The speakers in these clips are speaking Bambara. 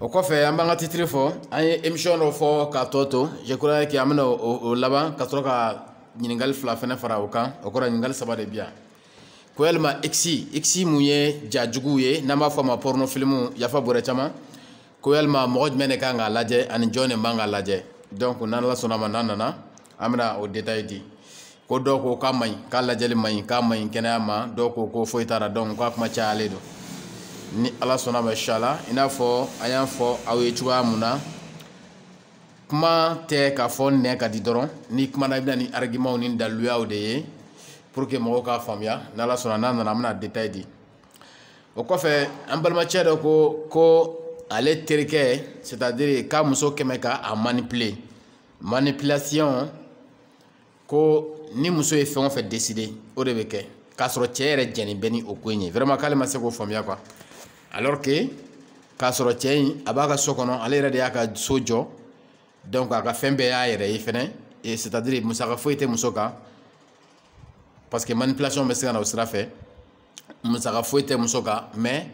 o kɔfɛ an b'an ka titiri fɔ an ye emisiyɔn dɔ fɔ k'a tɔ to je crois que an bɛna o laban ka sɔrɔ ka ɲininkali fila fɛnɛ fara o kan o kɔrɔ ɲininkali saba de bi yan ko yalima x x mun ye ja juguw ye n'an b'a fɔ a ma porno filimu yafa bɔrɛ caman ko yalima mɔgɔ jumɛn de kan k'a lajɛ ani jɔn de man k'a lajɛ donc n'ala sɔnna ma n'an nana an bɛna o detaye di ko dɔw ko k'a man ɲi k'a lajɛli man ɲi k'a man ɲi kɛnɛya ma dɔw ko ko foyi t'a la donc a kuma cayalen don ni ala sɔnna ma inshallah i n'a fɔ an y'a fɔ aw ye cogoya mun na kuma tɛ k'a fɔ nɛn ka di dɔrɔn n'i kumana i bɛ na ni arigimanw ni daliluyaw de ye pour que mɔgɔw k'a faamuya n'ala sɔnna n'an nana an bɛna detaye di o kɔfɛ an balimacɛ dɔ ko ko ale terikɛ c'est à dire k'a muso kɛmɛ ka a manipuler manipulation ko ni muso ye fɛn o fɛn décider o de bɛ kɛ k'a sɔrɔ cɛ yɛrɛ jɛnnen bɛ ni o ko in ye vraiment k'ale ma se k'o faamuya quoi alors que k'a sɔrɔ cɛ in a b'a ka so kɔnɔ ale yɛrɛ de y'a ka so jɔ donc a ka fɛn bɛɛ y'a yɛrɛ ye fɛnɛ c'est à dire musaka foyi tɛ muso kan parce que manipulation bɛ se ka na o sira fɛ musaka foyi tɛ muso kan mais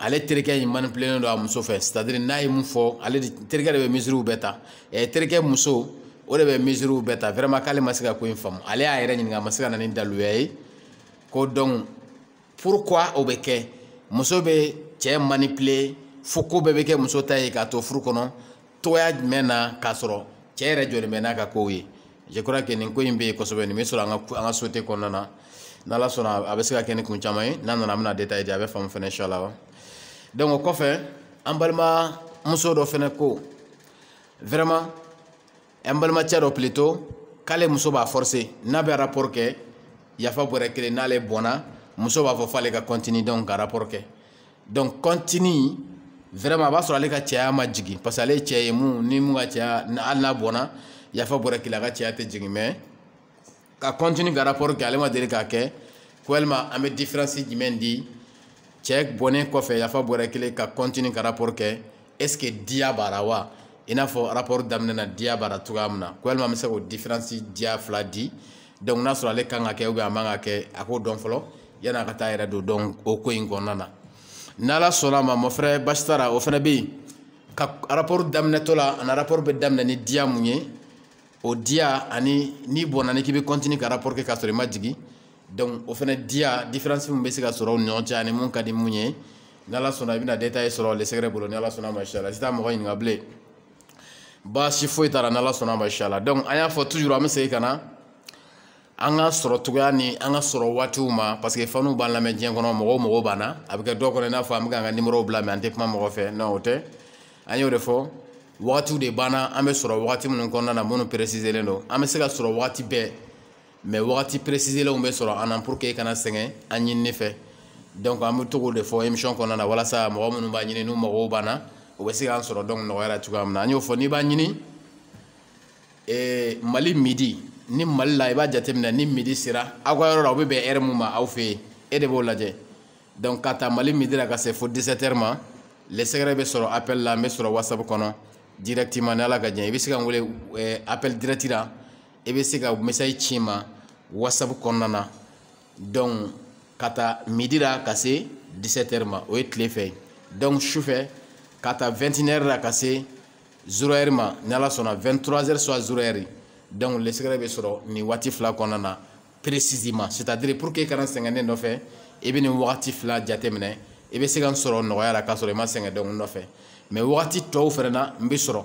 ale terikɛ in manipulelen don a muso fɛ c'est à dire n'a ye mun fɔ ale de terikɛ de bɛ mesures bɛɛ ta ɛ terikɛ muso o de bɛ mesures bɛɛ ta vraiment k'ale ma se ka ko in faamu ale y'a yɛrɛ ɲininka a ma se ka na ni daluya ye ko donc pourquoi o bɛ kɛ muso bɛ cɛ manipuler fo ko bɛɛ bɛ kɛ muso ta ye k'a to furu kɔnɔ cogoya jumɛn na k'a sɔrɔ cɛ yɛrɛ jɔlen bɛ n'a ka kow ye je crois que nin ko in bɛ yen kosɛbɛ nin bɛ sɔrɔ an ka an ka société kɔnɔna na n'ala sɔnna a bɛ se ka kɛ ni kun caman ye n'an nana an bɛna détail di a bɛ faamu fɛnɛ inshallah wa donc o kɔfɛ an balimamuso dɔ fɛnɛ ko vraiment an balimacɛ dɔ plutôt k'ale muso b'a forcer n'a bɛ rapport kɛ yafa bɔrɛ kelen n'ale bɔnna muso b'a fɔ f'ale ka continuer donc ka rapport kɛ donc kɔntini vraiment a b'a sɔrɔ ale ka cɛya ma jigin parce que ale ye cɛ ye mun ni mun ka cɛya hali n'a bɔnna yafa bɔrɛ kelen a ka cɛya tɛ jigin mais ka kɔntini ka rapport kɛ ale ma deli k'a kɛ ko yalima an bɛ différence jumɛn di cɛ bɔnnen kɔfɛ yafa bɔrɛ kelen ka kɔntini ka rapport kɛ est ce que diya b'a la wa i n'a fɔ rapport daminɛ na diya b'a la cogoya min na ko yalima an bɛ se k'o différence diya fila di donc n'a sɔrɔ ale kan k'a kɛ ou bien a man k'a kɛ a k'o dɔn fɔlɔ yanni a ka taa a yɛrɛ don donc o ko in kɔnɔna na n'ala sɔnna a ma mon frère basi t'a la o fana bɛ yen ka rapport daminɛtɔ la ani rapport bɛ daminɛ ni diya mun ye o diya ani n'i bɔnna n'i k'i bɛ continue ka rapport kɛ k'a sɔrɔ i ma jigin donc o fana diya différence min bɛ se ka sɔrɔ u ni ɲɔgɔn cɛ ani mun ka di mun ye ni ala sɔnna i bɛna détail sɔrɔ le secret bolo ni ala sɔnna mashallah sisan mɔgɔ ɲininka bilen baasi foyi t'a la ni ala sɔnna mashallah donc an y'a fɔ toujours an bɛ segin ka na an ka sɔrɔ cogoya ni an ka sɔrɔ waatiw ma parce que faniw b'an lamɛn diɲɛ kɔnɔ mɔgɔw mɔgɔw b'an na a bɛ kɛ dɔw kɔnɔ i n'a fɔ an bɛ k'an ka nimɔrɔw bila mais an tɛ kuma mɔgɔ fɛ non o tɛ an y'o de fɔ wagatiw de b'an na an bɛ sɔrɔ wagati minnu kɔnɔna na minnu peresizelen don an bɛ se ka sɔrɔ wagati bɛɛ mais wagati peresizelenw bɛ sɔrɔ an na pour que e kana sɛgɛn an ɲinini fɛ donc an bɛ to k'o de fɔ émission kɔnɔna na walasa mɔgɔ minnu b'a ɲini n'u mago b'an na o bɛ se k'an sɔrɔ donc nɔgɔya la cogoya min na an y'o fɔ n'i b'a ɲini ee mali midi ni mali la i b'a jateminɛ ni midi sera aw ka yɔrɔ la o bɛ bɛn heure mun ma aw fɛ yen e de b'o lajɛ donc ka ta mali midi la ka se fo 17 heures ma le secret bɛ sɔrɔ appel la n bɛ sɔrɔ whatsapp kɔnɔ directement ni ala ka jɛn i bɛ se ka n wele appel direct la i bɛ se ka message ci n ma whatsapp kɔnɔna na donc ka ta midi la ka se 17 heures ma o ye tile fɛ donc sufɛ ka ta 21 heures la ka se 0 heures ma ni ala sɔnna 23 heures soit 0 heures donc le secret bɛ sɔrɔ nin waati fila kɔnɔna na précisément c'est à dire pour que i kana sɛgɛn ne nɔfɛ i bɛ nin wagati fila jateminɛ i bɛ se ka n sɔrɔ nɔgɔya la k'a sɔrɔ i ma sɛgɛn donc n nɔfɛ mais wagati tɔw fana na n bɛ sɔrɔ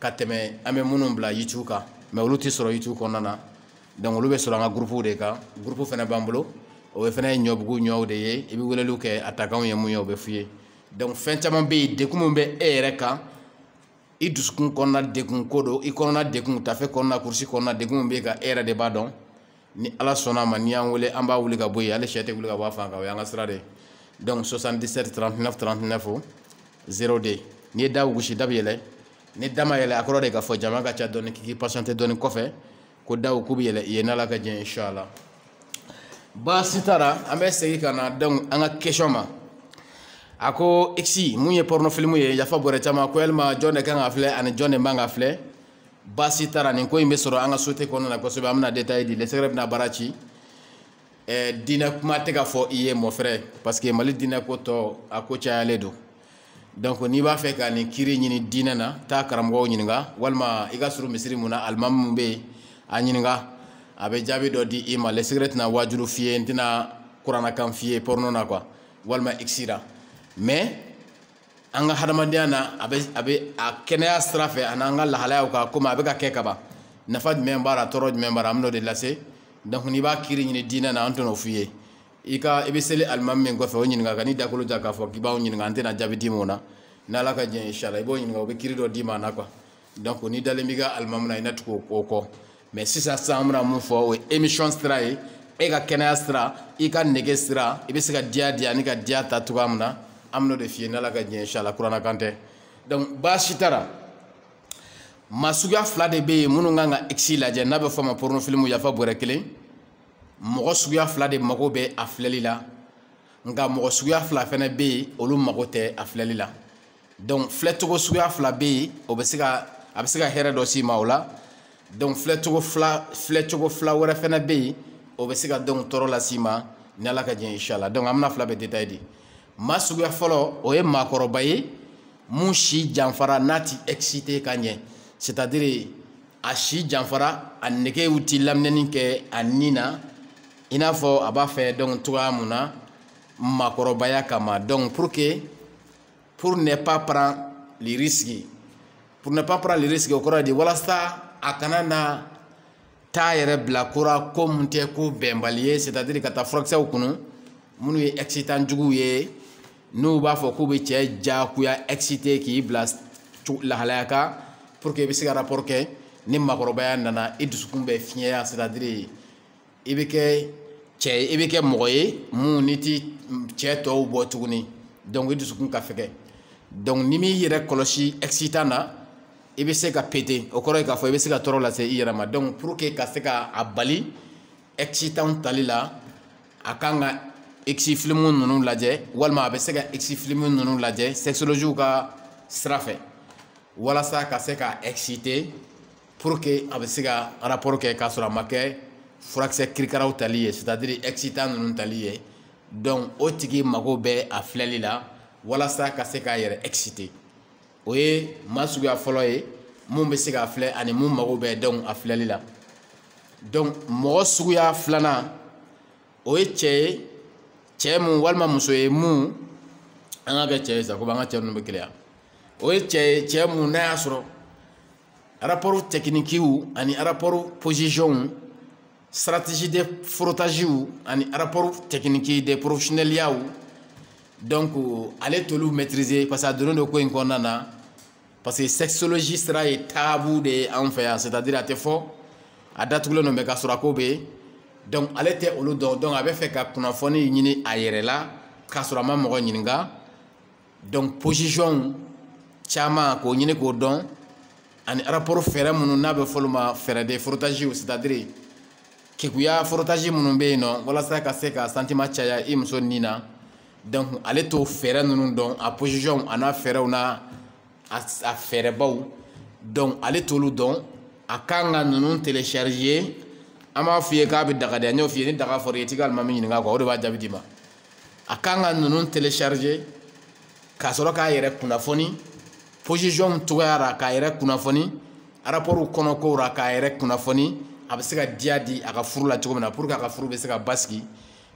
ka tɛmɛ an bɛ minnu bila youtube kan mais olu tɛ sɔrɔ youtube kɔnɔna na donc olu bɛ sɔrɔ an ka gurupuw de kan gurupu fana b'an bolo o fana ye ɲɔbugu ɲɔw de ye i bɛ weleliw kɛ a takanw ye mun ye o bɛ f'i ye donc fɛn caman bɛ yen dekun min bɛ e yɛrɛ kan i dusukun kɔnɔna dekun ko don i kɔnɔna dekun tafe kɔnɔna kurusi kɔnɔna dekun min bɛ kan e yɛrɛ de b'a dɔn ni ala sɔnna a ma n'i y'an wele an b'a wuli ka bɔ yen hali sɛ tɛ wuli ka bɔ a fan kan o y'an ka sira de ye donc 77 39 39 02 n'i ye da gosi da bɛ yɛlɛ ni da ma yɛlɛ a kɔrɔ de k'a fɔ jama ka ca dɔɔni k'i patienter dɔɔni kɔfɛ ko daw k'u bɛ yɛlɛ i ye n'ala ka jɛn inshallah baasi t'a ra an bɛ segin ka na donc an ka question ma a ko x mun ye porno film ye yafa bɔrɛ caman ko yalima jɔn de kan k'a filɛ ani jɔn de man k'a filɛ baasi t'a ra nin ko in bɛ sɔrɔ an ka société kɔnɔna na kosɛbɛ an bɛna détail di le secret bɛna baara ci eh, diinɛ kuma tɛ ka fɔ i ye mon frère parce que mali diinɛ ko tɔ a ko cayalen don donc n'i b'a fɛ ka nin kiri ɲini diinɛ na taa karamɔgɔw ɲininka walima i ka surun misiri mun na alimami mun bɛ yen a ɲininka a bɛ jaabi dɔ di i ma le secret tɛna waajuru f'i ye n tɛna kuranakan f'i ye porno na quoi walima x la mais an ka hadamadenya na a bɛ a bɛ a kɛnɛya sira fɛ ani an ka lahalayaw kan komi a bɛ ka kɛ kaban nafa jumɛn b'a la tɔɔrɔ jumɛn b'a la an bɛn'o de lase donc n'i b'a kiri ɲini diinɛ na an tɛn'o f'i ye i ka i bɛ seli alimami min kɔfɛ o ɲininka kan'i dakolo ja k'a fɔ k'i b'anw ɲininka an tɛna jaabi d'i ma o la n'ala ka jɛn inshallah i b'o ɲininka o bɛ kiri dɔ d'i ma a la quoi donc n'i dalen b'i ka alimamu na i na tugu o kɔ mais sisan sisan an bɛna mun fɔ o ye émission sira ye e ka kɛnɛya sira i ka nege sira i bɛ se ka diya di ani ka diya ta cogoya min na an bɛn'o de f'i ye n'ala ka diɲɛ inshala kurana kan tɛ donc baasi t'a ra maa suguya fila de bɛ yen minnu kan ka x lajɛ n'a bɛ fɔ a ma pornofilimu yafa bɔrɛ kelen mɔgɔ suguya fila de mago bɛ a filɛli la nka mɔgɔ suguya fila fana bɛ yen olu mago tɛ a filɛli la donc filɛcogo suguya fila bɛ yen o bɛ se ka a bɛ se ka hɛrɛ dɔ s'i ma o la donc filɛcogo fila filɛcogo fila wɛrɛ fana bɛ yen o bɛ se ka donc tɔɔrɔ las'i ma ni ala ka diɲɛ inshala donc an bɛna fila bɛɛ détail di maa suguya fɔlɔ o ye maakɔrɔba ye mun si janfara n'a ti excité ka ɲɛ c'est à dire a si janfara a negew ti laminɛni kɛ a ni na i n'a fɔ a b'a fɛ donc cogoya mun na maakɔrɔbaya kama donc pour que pour ne pas prendre les risques pour ne pas prendre les risques o kɔrɔ de walasa a kana na taa yɛrɛ bila ko ra ko mun tɛ ko bɛnbali ye c'est à dire ka taa furakisɛw kunu minnu ye excitant juguw ye n'u b'a fɔ k'u bɛ cɛ jagoya excité k'i bila lahalaya kan pour que i bɛ se ka rapport kɛ ni maakɔrɔbaya nana i dusukun bɛ fiɲɛya c'est à dire i bɛ kɛ cɛ ye i bɛ kɛ mɔgɔ ye mun ni ti cɛ tɔw bɔ tuguni donc i dusukun ka fɛgɛ donc n'i m'i yɛrɛ kɔlɔsi excitant na i bɛ se ka péter o kɔrɔ ye k'a fɔ i bɛ se ka tɔɔrɔ lase i yɛrɛ ma donc pour que ka se ka a bali excitant tali la a kan ka x filimu ninnu lajɛ walima a bɛ se ka x filimu ninnu lajɛ sexologiw ka sira fɛ walasa ka se ka exciter pour que a bɛ se ka rapport kɛ k'a sɔrɔ a ma kɛ furakisɛ kirikaraw tali ye c'est à dire excitant ninnu tali ye donc o tigi mago bɛ a filɛli la walasa ka se k'a yɛrɛ exciter o ye maa suguya fɔlɔ ye mun bɛ se k'a filɛ ani mun mago bɛ donc a filɛli la donc mɔgɔ suguya filanan o ye cɛ ye cɛ mun walima muso ye mun an ka kɛ cɛ ye sa komi an ka cɛ ninnu bɛ keleya o ye cɛ ye cɛ mun n'a y'a sɔrɔ rapport techniquew ani rapport positionw stratégie de frottagew ani rapport technique de professionnelyaw donc ale t'olu maîtriser parce que a donnen don ko in kɔnɔna na parce que sexologie sira ye tabou de ye an fɛ yan c'est à dire a tɛ fɔ a datugulen don mais k'a sɔrɔ a ko bɛ yen donc ale tɛ olu dɔn donc a bɛ fɛ ka kunnafoni ɲini a yɛrɛ la k'a sɔrɔ a ma mɔgɔ ɲininka donc position caman k'o ɲini k'o dɔn ani rapport fɛɛrɛ minnu n'a bɛ f'olu ma fɛɛrɛ de frottage c'est à dire kekuya frottage minnu bɛ yen nɔ walasa ka se ka sentiment caya i muso nin na donc ale t'o fɛɛrɛ ninnu dɔn a position a n'a fɛɛrɛw n'a a fɛɛrɛbaw donc ale t'olu dɔn a kan ka ninnu télécharger an b'a f'i ye k'a bɛ daga de an y'o f'i ye ni daga fɔra i ye t'i ka alimami ɲininka o de b'a jaabi d'i ma a kan ka ninnu télécharger k'a sɔrɔ k'a yɛrɛ kunnafoni position cogoya ra k'a yɛrɛ kunnafoni rapport kɔnɔ kow ra k'a yɛrɛ kunnafoni a bɛ se ka diya di a ka furu la cogo min na pour que a ka furu bɛ se ka basigi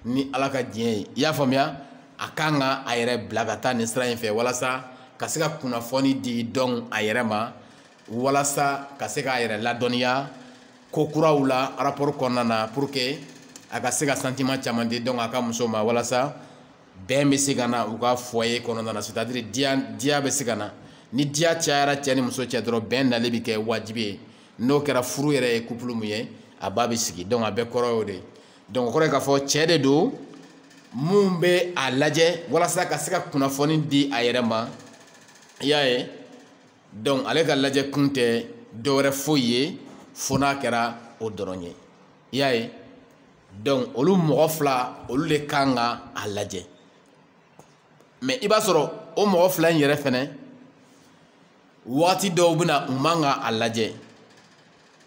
ni ala ka diɲɛ ye i y'a faamuya a kan ka a yɛrɛ bila ka taa nin sira in fɛ walasa ka se ka kunnafoni di donc a yɛrɛ ma walasa ka se k'a yɛrɛ ladɔnniya ko kuraw la rapport kɔnɔna na pour que a ka se ka sentiment caman di donc a ka muso ma walasa bɛn bɛ se ka na u ka foyer kɔnɔna na c'est à dire diya diya bɛ se ka na ni diya cayara cɛ ni muso cɛ dɔrɔn bɛn nali bɛ kɛ wajibi ye n'o kɛra furu yɛrɛ ye couple mun ye a ba bɛ sigi donc a bɛɛ kɔrɔ y'o de ye donc o kɔrɔ ye k'a fɔ cɛ de don mun bɛ a lajɛ walasa ka se ka kunnafoni di a yɛrɛ ma i y'a ye. donc ale ka lajɛ kun tɛ dɔwɛrɛ foyi ye fo n'a kɛra o dɔrɔn ye i y'a ye donc olu mɔgɔ fila olu de kan ka a lajɛ mais i b'a sɔrɔ o mɔgɔ fila in yɛrɛ fɛnɛ wagati dɔw bɛ na u man ka a lajɛ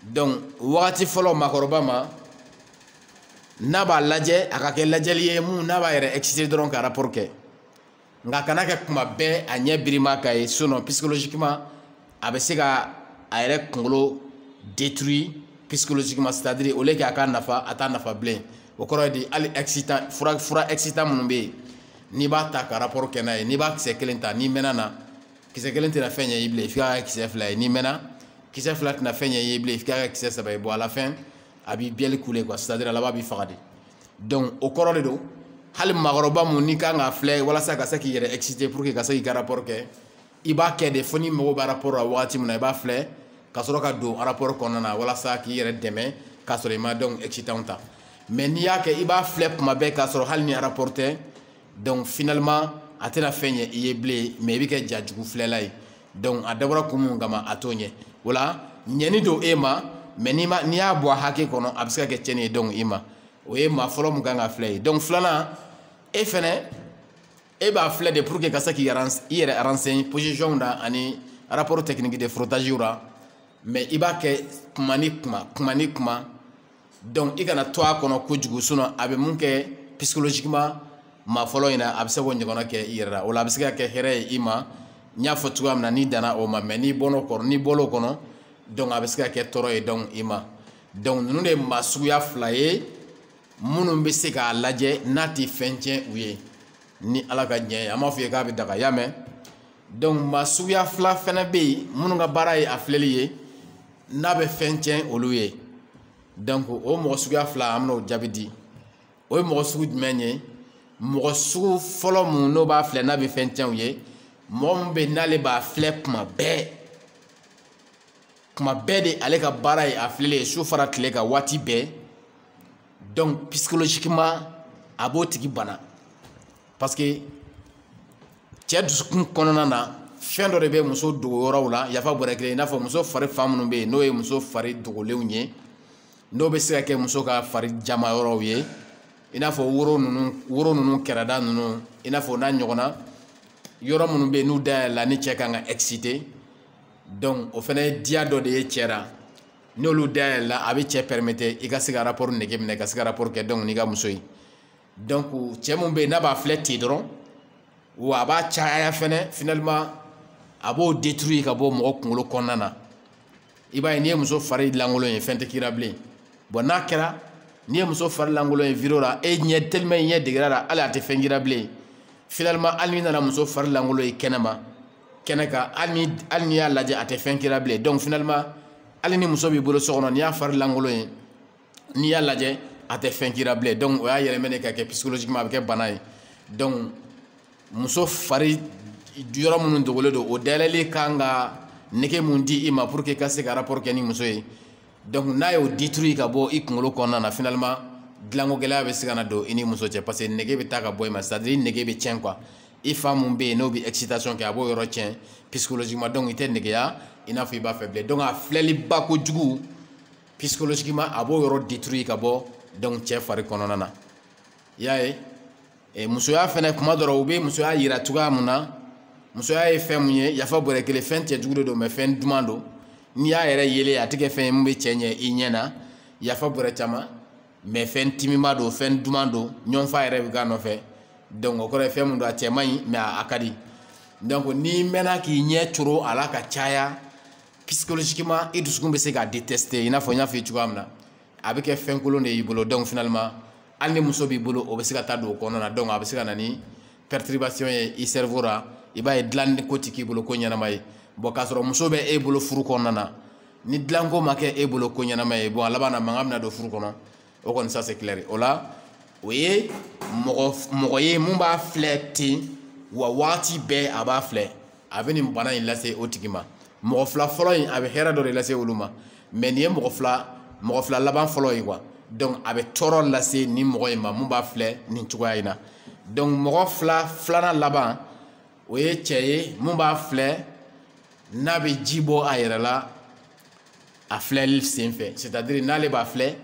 donc wagati fɔlɔ maakɔrɔba ma n'a b'a lajɛ a ka kɛ lajɛli ye mun n'a b'a yɛrɛ exciter dɔrɔn ka rapport kɛ nka a kana kɛ kuma bɛɛ a ɲɛ birima ka ye sinon psychologiquement a bɛ se ka a yɛrɛ kunkolo détruire psychologiquement c'est à dire au lieu que a ka nafa a t'a nafa bilen o kɔrɔ ye di hali excitant fura fura excitant minnu bɛ yen n'i b'a ta ka rapport kɛ n'a ye n'i b'a kisɛ kelen ta n'i mɛnna na kisɛ kelen tɛna fɛn ɲɛ i bilen f'i k'a kɛ kisɛ fila ye n'i mɛnna kisɛ fila tɛna fɛn ɲɛ i ye bilen f'i k'a kɛ kisɛ saba ye bon à la fin a b'i bielle couler quoi c'est à dire a laban b'i faga de donc o kɔrɔ de don hali maakɔrɔba mun n'i kan k'a filɛ walasa ka se k'i yɛrɛ exciter pour que ka se k'i ka rapport kɛ i b'a kɛ de fo n'i mago bɛ rapport la wagati min na i b'a filɛ ka sɔrɔ ka don rapport kɔnɔna na walasa k'i yɛrɛ dɛmɛ k'a sɔrɔ i ma donc excitant ta mais n'i y'a kɛ i b'a filɛ kuma bɛɛ k'a sɔrɔ hali ni rapport tɛ donc finalement a tɛna fɛn ɲɛ i ye bilen mais i bɛ kɛ jajugu filɛla ye donc a dabɔra kun mun kama a t'o ɲɛ o la ɲɛni don e ma mais n'i ma n'i y'a bɔ a hakɛ kɔnɔ a bɛ se ka kɛ tiɲɛni ye donc i ma o ye maa fɔlɔ mun kan k'a filɛ ye donc filanan e fɛnɛ e b'a filɛ de pour que ka se k'i i yɛrɛ renseigner position na ani rapport technique de frottage ra mais i b'a kɛ kuma ni kuma kuma ni kuma donc i kana to a kɔnɔ kojugu sinon a bɛ mun kɛ psychologiquement maa fɔlɔ in na a bɛ se k'o ɲɔgɔnna kɛ i yɛrɛ la o la a bɛ se ka kɛ hɛrɛ ye i ma n y'a fɔ cogoya min na n'i danna o ma mais n'i bɔl'o kɔnɔ n'i bɔl'o kɔnɔ donc a bɛ se ka kɛ tɔɔrɔ ye donc i ma donc ninnu de ye maa suguya fila ye minnu bɛ se k'a lajɛ n'a tɛ fɛn tiɲɛ u ye ni ala ka diɲɛ ye an m'a fɔ i ye k'a bɛ daga y'a mɛn donc maa suguya fila fana bɛ yen minnu ka baara ye a filɛli ye n'a bɛ fɛn tiɲɛ olu ye donc o mɔgɔ suguya fila an bɛna o jaabi di o ye mɔgɔ sugu jumɛn ye mɔgɔ sugu fɔlɔ mun n'o b'a filɛ n'a bɛ fɛn tiɲɛ u ye mɔgɔ min bɛ n'ale b'a filɛ tuma bɛɛ tuma bɛɛ de ale ka baara ye a filɛli ye su fara tile kan waati bɛɛ donc psychologiquement a b'o tigi bana parce que cɛ dusukun kɔnɔna na fɛn dɔ de bɛ muso dogo yɔrɔw la yafa bɔrɛ kelen i n'a fɔ muso fari fan minnu bɛ yen n'o ye muso fari dogolenw ye n'o bɛ se ka kɛ muso ka fari jama yɔrɔw ye i n'a fɔ woro ninnu woro ninnu kɛrɛda ninnu i n'a fɔ n'a ɲɔgɔnna yɔrɔ minnu bɛ yen n'u dayɛlɛla ni cɛ kan ka exciter donc o fana ye diya dɔ de ye cɛ la n'olu dayɛlɛla a bɛ cɛ permettre i ka se ka rapport nege minɛ ka se ka rapport kɛ donc n'i ka muso ye donc cɛ mun bɛ yen n'a b'a filɛ ten dɔrɔn wa a b'a caya fɛnɛ finalement a b'o détruire ka bɔ mɔgɔ kunkolo kɔnɔna na i b'a ye n'i ye muso fari lankolon ye fɛn tɛ k'i la bilen bon n'a kɛra n'i ye muso fari lankolon ye vidéo la e ɲɛ tellement i ɲɛ deger'a la hali a tɛ fɛn k'i la bilen finalement hali n'i nana muso fari lankolon ye kɛnɛma kɛnɛ kan hali ni hali n'i y'a lajɛ a tɛ fɛn k'i la bilen donc finalement hali ni muso b'i bolo so kɔnɔ n'i y'a fari lankolon ye n'i y'a lajɛ a tɛ fɛn k'i la bilen donc o y'a yɛlɛmɛ de ka kɛ psychologiquement a bɛ kɛ bana ye donc muso fari yɔrɔ minnu dogolen don o dayɛlɛli kan ka nege mun di i ma pour que i ka se ka rapport kɛ ni muso ye donc n'a y'o détruire ka bɔ i kunkolo kɔnɔna na finalement dilanko gɛlɛya bɛ se ka na don i ni muso cɛ parce que nege bɛ taa ka bɔ i ma c'est à dire i nege bɛ tiɲɛ quoi i fan mun bɛ yen n'o bɛ excitation kɛ a b'o yɔrɔ tiɲɛ psychologiquement donc i tɛ negeya i n'a fɔ i b'a fɛ bilen donc a filɛliba kojugu psychologiquement a b'o yɔrɔ détruire ka bɔ donc cɛ fari kɔnɔna na i y'a ye musoya fɛnɛ tuma dɔ la u bɛ musoya yira cogoya mun na musoya ye fɛn mun ye yafa bɔrɛ kelen fɛn cɛjugu de don mais fɛn duman don n'i y'a yɛrɛ yelen a tɛ kɛ fɛn ye mun bɛ cɛ ɲɛ i ɲɛ na yafa bɔrɛ caman mais fɛn timiman don fɛn duman don ɲɔgɔnfaga yɛrɛ bɛ k'a nɔfɛ donc o kɔrɔ ye fɛn mun don a cɛ man ɲi mais a ka di donc n'i mɛnna k'i ɲɛ coro a la ka caya psychologiquement i dusukun bɛ se k'a détester i n'a fɔ n y'a f'i ye cogoya min na a bɛ kɛ fɛn kolon de y'i bolo donc finalement hali ni muso b'i bolo o bɛ se ka taa don o kɔnɔna na donc a bɛ se ka na ni perturbation ye i cerveau la i b'a ye dilanko tɛ k'i bolo ko ɲɛnama ye bon k'a sɔrɔ muso bɛ e bolo furu kɔnɔna na ni dilanko ma kɛ e bolo ko ɲɛnama ye bon a laban na mankan bɛna don furu kɔnɔ o kɔni ça c'est clair o la o ye mɔgɔ ye mun b'a filɛ ten wa waati bɛɛ a b'a filɛ a bɛ nin bana in lase o tigi ma mɔgɔ fila fɔlɔ in a bɛ hɛrɛ dɔ de lase olu ma mais nin ye mɔgɔ fila mɔgɔ fila laban fɔlɔ ye quoi donc a bɛ tɔɔrɔ lase nin mɔgɔ in ma mun b'a filɛ nin cogoya in na donc mɔgɔ fila filanan laban o ye cɛ ye mun b'a filɛ n'a bɛ ji bɔ a yɛrɛ la a filɛli senfɛ c'est à dire n'ale b'a filɛ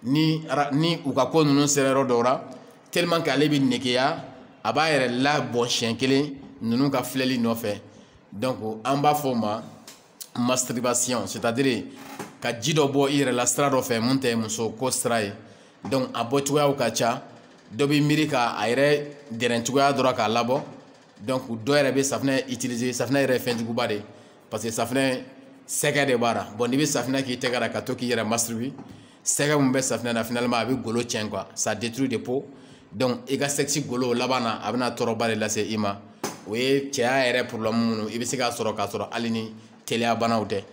ni ni u ka ko ninnu sera yɔrɔ dɔw la tellement que ale bɛ negeya a b'a yɛrɛ labɔ siɲɛ kelen ninnu ka filɛli nɔfɛ donc an b'a fɔ o ma masturbation c'est à dire ka ji dɔ bɔ i yɛrɛ la sira dɔ fɛ mun tɛ muso ko sira ye donc a bɔ cogoyaw ka ca dɔ bɛ miiri ka a yɛrɛ dɛrɛn cogoya dɔ la k'a labɔ donc dɔ yɛrɛ bɛ safinɛ utiliser safinɛ yɛrɛ ye fɛn juguba de ye parce que safinɛ sɛgɛ de b'a la bon n'i bɛ safinɛ k'i tɛgɛ la ka to k'i yɛrɛ masturber sɛgɛ min bɛ safinɛ na finalement a bɛ golo tiɲɛ quoi ça détruit de peau donc i ka sexe golo laban na a bɛna tɔɔrɔba de lase i ma o ye cɛya yɛrɛ problème minnu i bɛ se k'a sɔrɔ k'a sɔrɔ hali ni teliya banaw tɛ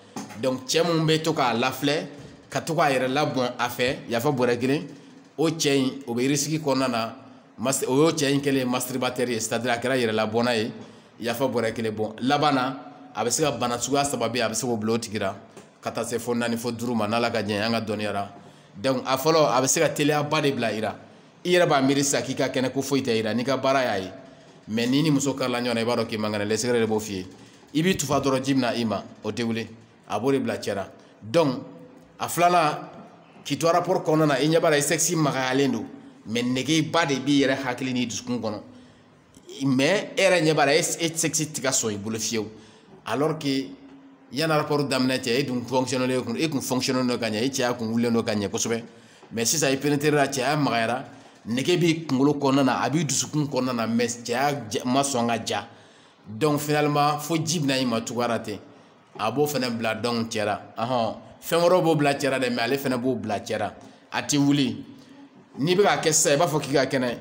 donc cɛ mun bɛ to k'a lafilɛ ka to k'a yɛrɛ labɔn a fɛ yafa bɔrɛ kelen o cɛ in o bɛ risque kɔnɔna na o y'o cɛ in kɛlen ye masturbateur ye c'est à dire a kɛra yɛrɛlabɔnna ye yafa bɔrɛ kelen bon laban na a bɛ se ka bana suguya saba bɛ yen a bɛ se k'o bila o tigi la ka taa se fo naani fo duuru ma n'ala ka jɛn an ka dɔnniya la donc a fɔlɔ a bɛ se ka teliyaba de bila i la i yɛrɛ b'a miiri sisan k'i ka kɛnɛ ko foyi tɛ i la n'i ka baara y'a ye mais n'i ni muso karila ɲɔgɔn na i b'a dɔn k'i man kɛnɛ lɛsɛgɛrɛ de b'o f'i ye i b'i tufa dɔrɔn ji bɛna i ma o tɛ wuli a b'o de bila cɛ la donc a filanan k'i to rapport kɔnɔna na i ɲɛ b'a la i sexe magayalen don mais negeba de b'i yɛrɛ hakili n'i dusukun kɔnɔ mais e yɛrɛ ɲɛ b'a la e sexe tɛ ka sɔn i bolo fiyewu alors que yanni rapport daminɛ cɛ e dun fonctionnelen e kun fonctionnelen don ka ɲɛ e cɛya kun wulilen don ka ɲɛ kosɛbɛ mais sisan i pénétrer la cɛya magayara nege b'i kunkolo kɔnɔna na a b'i dusukun kɔnɔna na mais cɛya ma sɔn ka ja donc finalement fo ji bɛna i ma cogoya la ten a b'o fana bila donc cɛ la ahɔn fɛn wɛrɛw b'o bila cɛ la dɛ mais ale fana b'o bila cɛ la a tɛ wuli n'i bɛ k'a kɛ sisan i b'a fɔ k'i ka kɛnɛ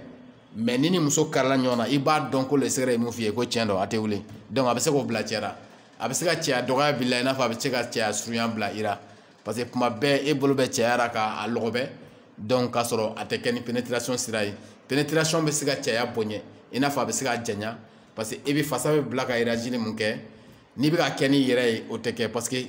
mais n'i ni muso karila ɲɔgɔn na i b'a dɔn ko lɛsɛgɛrɛ ye mun f'i ye ko tiɲɛ don a tɛ wuli donc a bɛ se k'o bila cɛ la a bɛ se ka cɛya dɔgɔya bila i n'a fɔ a bɛ se ka cɛya surunya bila i la parce que kuma bɛɛ e bolo bɛ cɛya la k'a lɔgɔbɛ donc k'a sɔrɔ a tɛ kɛ ni pénétration sira ye pénétration bɛ se ka cɛya bonya i n'a fɔ a bɛ se ka janya parce que e bɛ fasa bɛɛ bila ka erajili mun kɛ n'i bɛ k'a kɛ n'i yɛrɛ ye o tɛ kɛ parce que